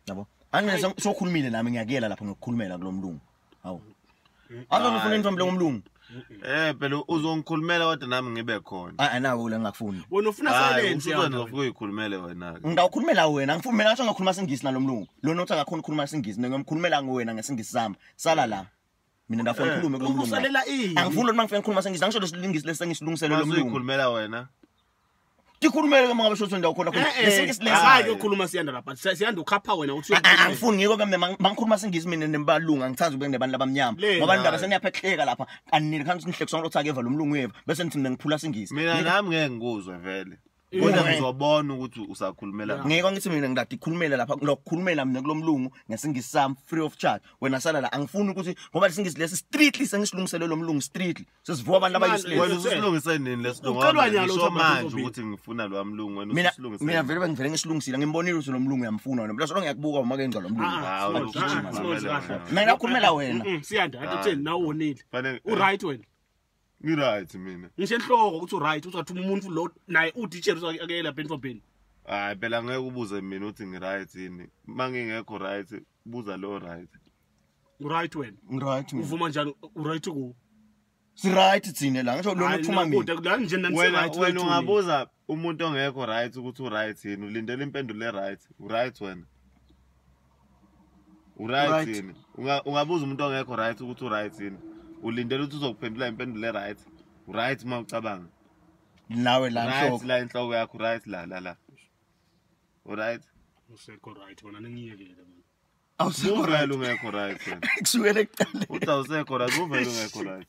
yabo angeke sokhulumile nami ngiyakuyela lapho ngokukhulumela kulomlungu hawu azona ufuna intombi lengomlungu Eh phela uzongikhulumela kodwa nami ngibe khona. Ah, ah nawo la ngakufuni. Wena ufuna silence yona. Ngifuna ukuyikhulumela wena ke. Ngawukhulumela wena, ngifuna ngathi ngakhuluma singisi nalomlungu. Lona uthi akakhona ukukhuluma singisi, ngiyomkhulumela ngowena ngesingisi sami. Sala la. mina ndafuna eh, ngikhulume kulo mlungu angifuni lona mangifuna ngikhuluma sengizange ngisho lesilingisi lesengisilungisele lo mlungu ukhulumela wena tikhulumele ke mangabe shothi ndawo khona khona lesinke silesa hayi yokhuluma siyanda lapha siyanda ukhapha wena uthi angifuni ngiko ke mina mangikhuluma singisi mina nembalunga ngithanda ukube nebantu labamnyama ngoba indaba seniyaphehleka lapha anini khansi nihlekiswa ngilotha ke vala umlungu yeva bese nithi mina ngiphula singisi mina nami ngeke ngikuzwe vele kodwa ngizobona ukuthi usakhulumela ngakho ngeke ngithi mina ngilade ikhulumele lapha ngilokukhulumela mina kulomlungu ngesingisi sami free of charge wena sala la angifuni ukuthi ngoba lesingisi lesi strictly sengisilungisele lomlungu strictly sesivuka abantu abayisile wena usilungise nini lesilungu ucelwa nyalo usho manje ukuthi ngifuna lo mlungu wena usilungise mina vele bengivele ngisilungisile ngimbonile ukuthi lomlungu uyamfuna wena bese ngiyakubuka uma kenza lomlungu ah, ah, ah, mina ukhulumela wena siyanda athi utheni nawe wonile u right wena Ngiright mina. Ngisho enhloko ukuthi uright uzathuma umuntu lo naye uteacher uzakuyela Ben for Ben. Hayi phela ngeke ubuze mina uthi ngiright yini. Mangingekho right buza lo right. Uright wena. Ngiright mina. Uvuma njani uright ku? Siright thina la ngisho lona uthuma mina. Wena wena ungabuza umuntu ongekho right ukuthi uright yini ulindela impendulo eright uright wena uright yini ungabuza umuntu ongekho right ukuthi uright yini ulindela ukuthi uzokuphendula impendulo eright uright uma ucabanga nawe la right la inhloko yakho right la la la uright usekho right wena ningiyekele mina awusekho right ungekho right kusukela ekuqaleni uthi awusekho right uvele ungekho right